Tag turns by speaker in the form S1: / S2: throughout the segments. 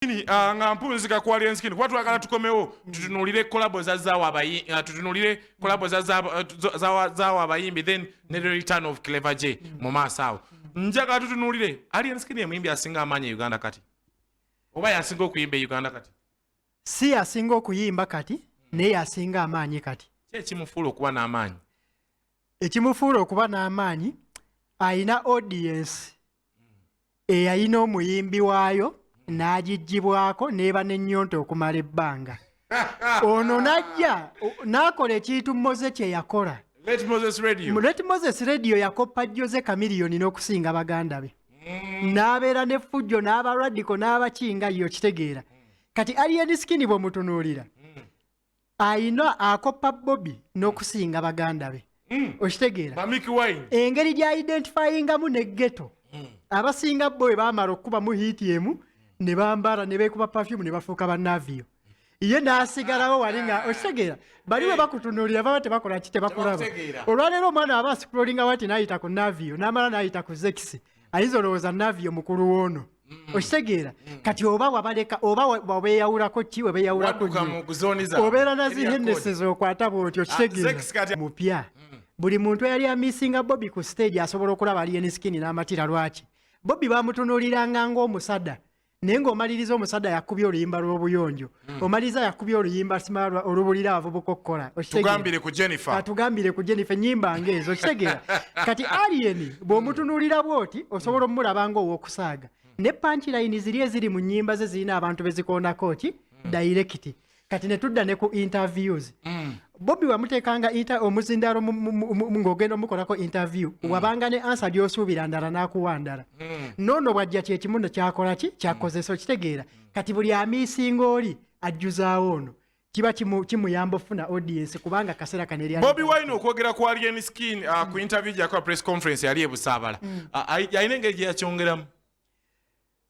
S1: skin ah, nga mpunzika quality skin kuba twagala tukomewo tutunulire collabo za zawo abayi ah, tutunulire collabo za zawo eh, zawo abayimbi then ne the return of clever j mu maaso awo njaga tutunulire alien skin emuyimbi asinga amaanyi e uganda kati oba yasinga okuyimba e uganda kati si yasinga
S2: okuyimba kati naye yasinga amaanyi kati ki ekimufuula okuba
S1: n'amaanyi
S2: ekimufuula okuba n'amaanyi alina audience eyalina omuyimbi waayo n'agigibwako n'eba n'ennyonta okumala ebbanga ono n'ajja n'akola ekintu moze kye yakola Let Moses Radio.
S1: Let Moses Radio yakoppa Jose Chameleone n'okusinga baganda be. Mm. N'abeera ne fujjo n'aba radical n'abakinga yo kitegeera. Kati Alien Skin bw'omutunuulira. Mm. ayina akoppa bobi n'okusinga baganda be mm. okitegeera engeri gyaidentifyingamu ne geto mm. abasinga bo bwe bamala okukubamu hiiti emu ne bambala ne beekuba pafyumu ne bafuuka banaviyo ye n'asigalawo wali nga ah. okitegeera bali bwe bakutunuulira baba tebakola ki tebakulaba olwaleero omwana aba asikulolinga wati n'ayita ku naviyo n'amala n'ayita ku zekisi ayinza olowooza navio mukulu woono mm. okitegeera mm. kati oba wabaleka oba wabeyawulako ki webeyawulako obeera nazihenneses okwata bwoti okitegeera mupya mm. buli muntu eyali amisinga bobi ku stage asobola okulaba alieni skini n'amatira lwaki bobi bamutunuuliranga ng'omusada naye ng'omaliriza omusajja yakubye oluyimba lw'obuyonjo hmm. omaliriza yakubye oluyimba simalwa olubulira abavubuka okukola tugambire ku jennifer atugambire ah,
S2: ku jennifer enyimba ngaezo okitegera kati alien bw'omutunuulira bw'oti osobola omulaba nga ow'okusaaga ne pankilayini ziri eziri mu nyimba ze zirina abantu bezikondako ki hmm. dayirekiti kati netudda ne ku interviews mm. bobi wamutekanga inter omuzindalo ng'ogenda omukolako interview mm. wabanga ne ansa lyosuubira ndala n'akuwa ndala mm. noono bwajja kyekimu ne kyakola ki kyakozesa okitegeera kati buli amiisinga oli ajjuzaawo ono kiba kimuyamba ofuna audience kubanga kaseera kano eri bobi wine okwogera ku
S1: alien skin uh, ku interview gyakola press conference yali ebusaabala mm. uh, alina engeri gyeyakyongeramu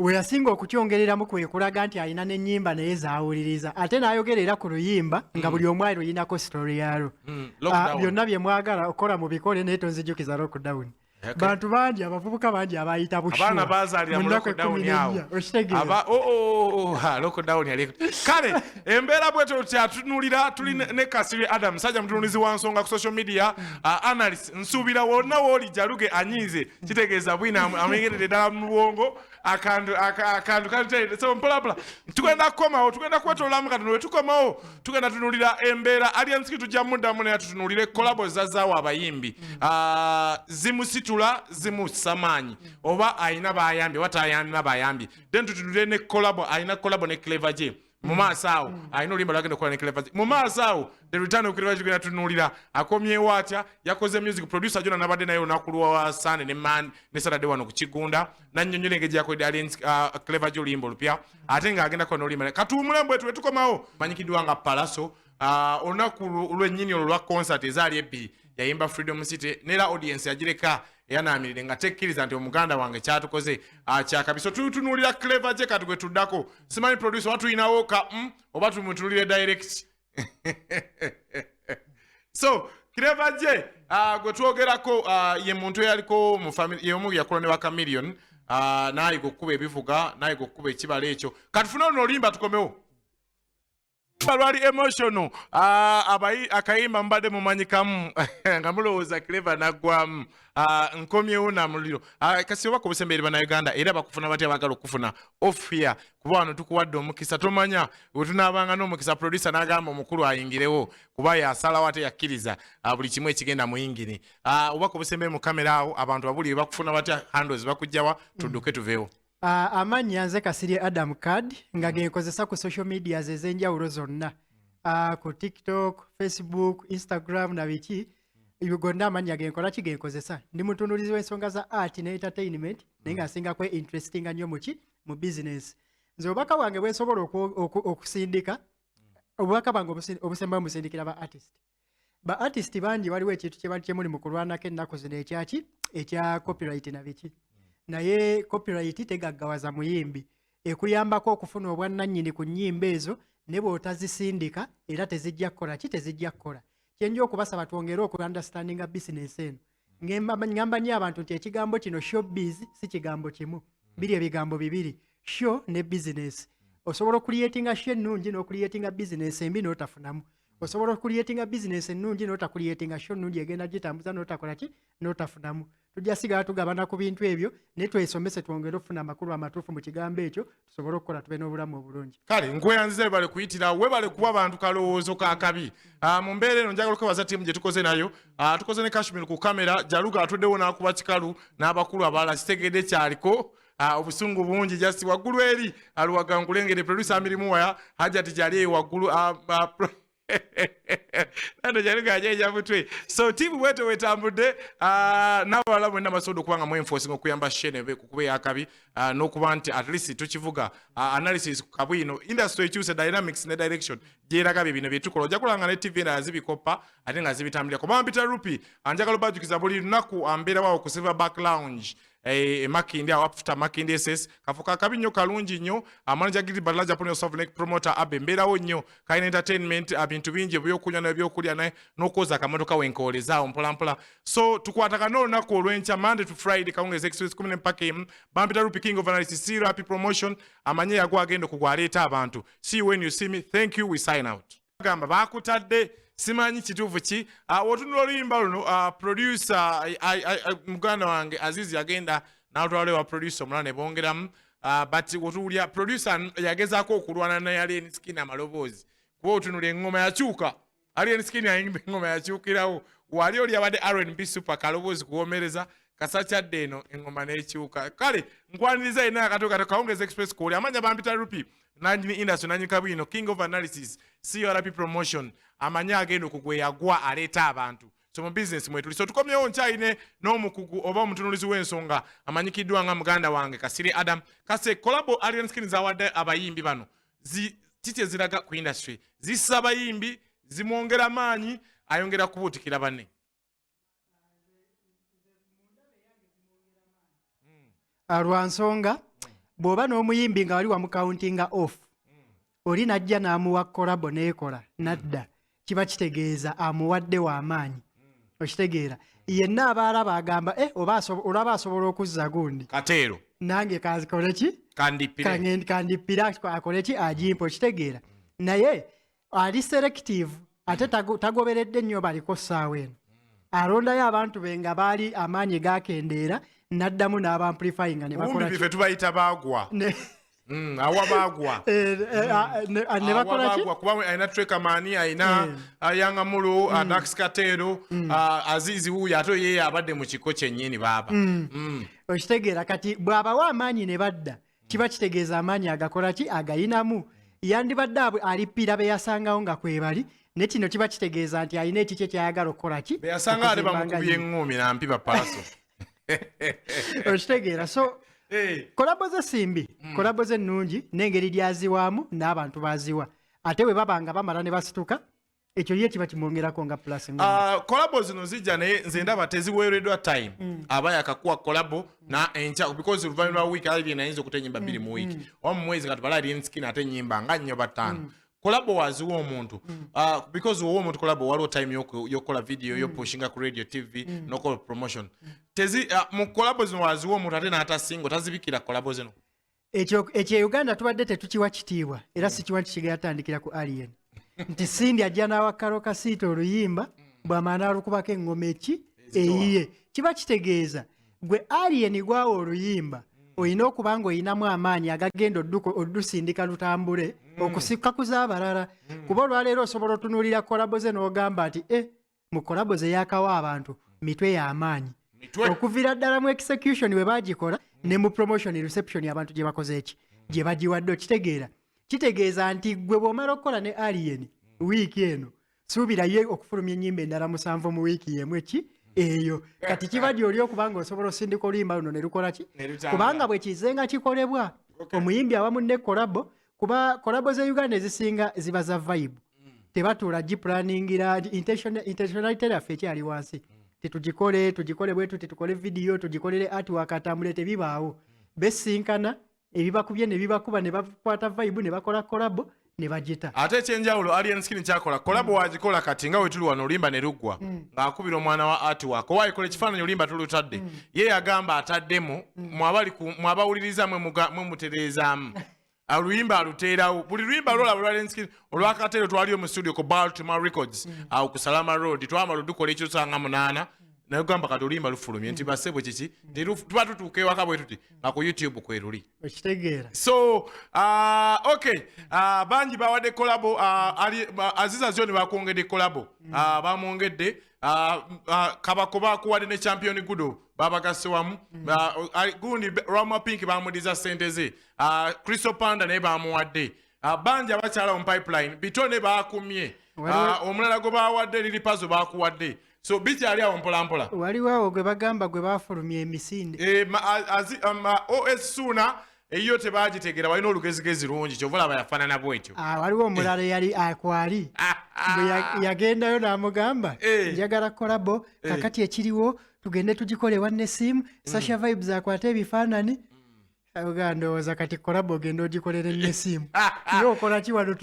S2: weyasinga okukyongereramu kwekulaga nti alina nenyimba naye zawuliriza ate nayogera era ku luyimba nga buli omu ali luyinako story yalwo mm, ah, byonna byemwagala okukola mubikole naye tonzijukiza lockdown bantu bangi abavubuka bangi abayita
S1: bushmunakwekumiriaoshtegkale embeera bweto kyatunulira tuli ne kasiri adam musajja mutunulizi wa nsonga ku social media mm. ah, analyst nsuubira wonna wooli jaluge anyiize kitegeeza bwino amuyingiridde ddala mu bwongo akantu akantu kalitende so mpolapula tugenda kukomawo tugenda kwetololamu katono we tukomawo tugenda tunulira embeera aliensiki tujja muddamu naye tutunulire kolabo zazaawo abayimbi ah, zimusitula zimussa maanyi oba alina bayambye oba tayalina bayambye then tutunulire ne kolabo alina kolabo ne clever je mu maaso awo mm. alina oluyimba lwagenda okukola ne clever mu maaso awo the return of clever zigenda tunuulira akomyewo atya yakoze music producer jona nabadde naye olunaku lwa sande ne man ne saturday wano ku kigunda nannyonnyola engeri gyakoledde ali uh, clever gy oluyimba olupya ate ng'agenda kukola n'oluyimba katuwumulamu bwetu bwe tukomawo manyikiddwa nga palaso uh, olunaku lwennyini olwo lwa concert ezaali ebbiri yayimba freedom city nera audience yagireka eyanaamirire nga tekkiriza nti omuganda wange kyatukoze akyakabi so tutunuulira clever je kati gwe tuddako simanyi producer oba tulinawo ka mm, oba tumutunulire direct so clever je ah, gwe twogerako ah, ye muntu eyaliko mu family yomu yakola ne ba chameleon ah, nayiga okukuba ebivuga nayiga okukuba ekibala ekyo katufune oluno olimba tukomewo balwali emotional ah, abayi akayimba mubadde mumanyikamu nga mulowooza cleva naggwamu ah, nkomyewo namuliro ah, kasi oba kubusembeeri banauganda era bakufuna batya bagala okufuna off here kuba wano tukuwadde omukisa tomanya wetunaabanga n'omukisa producer n'agamba omukulu ayingirewo kuba yasalawo ate yakkiriza buli kimu ekigenda mu yingini oba kubusembeeri mu kamera awo abantu babuli bakufuna batya handles bakujjawa tudduke tuveewo Uh, amanya nze
S2: kasirye adam card nga mm. genkozesa ku social medias ez'enjawulo zonna uh, ku tiktok facebook instagram na biki ebyo gonna amanya genkola ki genkozesa ndi mutunulizi w'ensonga za art ne entertainment mm. naye nga asinga kwe interestinga nnyo muki mu business nze obubaka bwange bwensobola okusindika mm. obubaka bwange obusembayo musindikira ba artist mm. ba artist bangi waliwo ekintu kyebali kyemuli mu kulwanako ennaku zino ekyaki ekya copyright na biki naye copyright tegaggawaza muyimbi ekuyambako okufuna obwannannyini ku nnyimba ezo ne bw'otazisindika era tezijja kukola ki tezijja kukola kyenja okubasaba twongere okulanda standinga bisinesi eno ngamba nyo abantu nti ekigambo kino showbiz si kigambo kimu biri ebigambo bibiri show ne business osobola okuliyetinga sho ennungi n'okuliyetinga bizinesi embi n'otafunamu osobola okuliyetinga bizinesi ennungi n'otakuliyetinga sho ennungi egenda gitambuza n'otakola ki n'otafunamu tujja sigala tugabana ku bintu ebyo naye twesomese twongere okufuna amakulu amatuufu mu kigambo ekyo tusobole okukola tube n'obulamu obulungi kale nkweyanziza webale
S3: kuyitira webale kuba bantu kalowoozo kakabi ah, mu mbeera eno njagala okwebaza tiimu gye tukoze nayo ah, tukoze ne kashmir ku kamera jaluga atuddewo n'akuba kikalu n'abakulu abalala kitegedde kyaliko ah, obusungu bungi just waggulu eri aluwaga nkulengere producer amirimu waya hajati gyali eyo waggulu nano kyali gajaija mutwe so tiimu bweto wetambudde ah, n'abalala mwenna basobola okuba nga mwenfosinga okuyamba shene kukuba eyakabi ah, n'okuba nti at least tukivuga ah, analysis ku kabwino industry ekyuse dynamics ne direction gyeraga bye bino byetukola ojja kulanga ne tv endala zibikoppa ate nga zibitambulira kuba mpita rupi anjagala obajukiza buli lunaku ambeerawawo ku silver back lounge eh, e makindi awo afuta makindi ss kafuka akabi nnyo kalungi nnyo amanaja gidi badala japan yosofu ne promoter abe mbeerawo nnyo kalina entertainment abintu bingi ebyokunywa nebyokulya naye nokwoza akamotoka wenkoolezaawo mpolampola so tukwatagana olunaku olwenkya monday to friday kawungezi express kumi nempaka emu bampita rupi king of analysis si rapi promotion amanye yago agenda okugwa aleeta abantu see you when you see me thank you we sign out gamba bakutadde simanyi kituufu ki ah, otunula oluyimba luno ah, producer muganda wange azizi yagenda natwala ewa producer omulala ne bongeramu ah, but otuwulira producer yagezaako okulwana naye alien skin amaloboozi kuba otunula eŋŋoma yakyuka alien skin ayimba eŋŋoma yakyukirawo wali oli abadde rnb super kaloboozi kuwomereza kasakyadde eno eŋŋoma n'ekyuka kale nkwaniriza yenna akatokato kawungezi express kuoli amanya bampita rupi nanyini industry nanyini kabwino king of analysis crp promotion amanyi agenda okugweyagwa aleeta abantu so mu business mwetuli so tukomyewo nkyayine n'omukugu oba omutunulizi w'ensonga amanyikiddwa nga muganda wange kasiri adam kase collabo alien skin zawadde abayimbi bano kiki eziraga ku industry zissa abayimbi zimwongera maanyi ayongera kubuutikira banne
S2: Ah, lwa nsonga bw'oba n'omuyimbi nga wali wamukauntinga off oli najja n'amuwa kolabo n'ekola nadda kiba kitegeeza amuwadde w'amaanyi okitegeera yenna aba alaba agamba e olaba asobola okuzza gundi kateero nange kanzikoleki kandippire akole ki agimpa okitegeera naye ali selective ate tago- tagoberedde nnyo baliko ssaawa eno alondayo abantu be nga baali amaanyi gakendeera n'addamu n'abampulifayinga ne bakola Ubundi bife tubayita bagwa.
S3: ne- Mm, awa bagwa. eh, eh, ah, ne-
S2: ah, ne bakola ki Awabagwa, kuba alina trekamani
S3: alina Eh. ayangamulu adax kateero ah, azizi wuuyo ate ye abadde mu kiko kyennyini baaba Mm. okitegeera
S2: kati bw'abawa amaanyi ne badda kiba kitegeeza amaanyi agakola ki agayinamu yandibadde abwe alippira be yasangawo nga kwebali ne kino kiba kitegeeza nti alina ekikye kyayagala okukola ki beyasanga ate bamukubye
S3: eŋŋuumi nampi bapaaso okitegeera
S2: so kolabo ze simbi hmm. kolabo ze nnungi n'engeri lyaziwaamu n'abantu baziwa ate bwe baba nga bamala ne basituka ekyo ye kiba kimwongerako nga plus uh, ah, kolabo zino
S3: zijja naye nze ndaba teziweereddwa time mm. aba yakakuwa kolabo na enkya because oluvanyuma lwa wiiki alabye nayinza okuta enyimba bbiri mm, mu wiiki mm. oba mu mwezi katubala alien skin ate enyimba nga nnyo bataano mm. kolabo waziwa omuntu mm. uh, because wowa omuntu kolabo waliwo time yokukola video mm. yopushinga ku radio tv mm. nokola promotion mm. tezi uh, mu kolabo zino waziwa omuntu ate n'ata singo tazibikira kolabo zino ekyo ekyo e
S2: uganda tubadde tetukiwa kitiibwa era mm. sikiwa nti kigera tandikira ku alien nti sindi ajja n'awa karo kasiita oluyimba mm. bwamaana alukubako eŋŋoma eki eyiye kiba kitegeeza mm. gwe alien gwawo oluyimba olina okuba nga olinamu amaanyi agagenda odduka oddusindika lutambule okusikka ku z'abalala kuba olwaleero osobola otunuulira kolabo ze n'ogamba nti e mu kolabo ze yakawa abantu mitwe y'amaanyi okuviira ddala mu execution bwe bagikola ne mu promotion reception abantu gye bakoze eki gye bagiwadde okitegeera kitegeeza nti gwe bw'omala okukola ne alien wiiki eno suubira ye okufulumya ennyimba endala musanvu mu wiiki yemu eki eyo kati kiba gyoli okuba nga osobola osindika oluyimba luno ne lukola ki kubanga bwe kizenga kikolebwa omuyimbi awamu ne kolabo kuba kolabo za uganda ezisinga ziba za vibe mm. tebatuula giplaningira intentionality yaffe ekyali wansi mm. tetugikole tugikole bwetu tetukole vidiyo tugikolere artwork atambule tebibaawo mm. besinkana ebibakubye nebibakuba nebakwata vibe nebakola kolabo nebagita ate ekyenjawulo alien
S3: skin kyakola kolabo wagikola kati nga wetuli wano olimba ne luggwa mm. ng'akubira omwana wa ati wako wayikola ekifaananyi olimba tulutadde mm. ye yagamba ataddemu mm. mwabawuliriza mwe mutereezaamu aluyimba aluteerawo buli luyimba lwolaba lwa lenskid olwakateero twaliyo mu studio ku baltimore records mm. awo ku salama road twamala odukola ekyosanga munaana naye ogamba kati oluyimba lufulumye nti basebo kiki tuba tutuuka ewaka bwe tuti nga ku youtube kweruli okitegeera so
S2: uh,
S3: ok uh, bangi bawadde kolabo uh, aziza zoni bakwongedde kolabo mm. uh, bamwongedde uh, uh, kabako bakuwadde ne champion gudo babagasse wamu mm. gundi rama pink bamudiza sente ze ah, crystal panda naye bamuwadde ah, bangi abakyala mu pipeline bitone bakumye ah, omulala gwe bawadde liri pazo bakuwadde so bikyali awo mpolampola waliwo awo gwe bagamba
S2: gwe bafulumya emisinde eh, um,
S3: os suuna eyiyo tebagitegera walina olugezigezi lungi kyova laba yafaanana bwetyo waliwo omulala eyali
S2: akwali bwe yagendayo n'amugamba eh. njagala kolabo eh. kakati ekiriwo tugende tugikole ewa nesiimu mm. sasha vibes akwate ebifaanani mm. oga ndowooza kati kolabo ogenda ogikolera enesiimu ye okola ki wano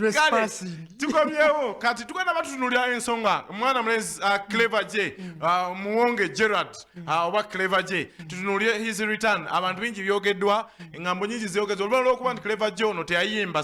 S2: tukomyewo
S3: kati tugenda batutunulira ensonga omwana mulezi uh, clever j mm. uh, muwonge gerard uh, oba clever j tutunulire his return abantu bingi byogeddwa engambo nyingi zyogeddwa oluvanyuma lwokuba nti clever j ono teyayimba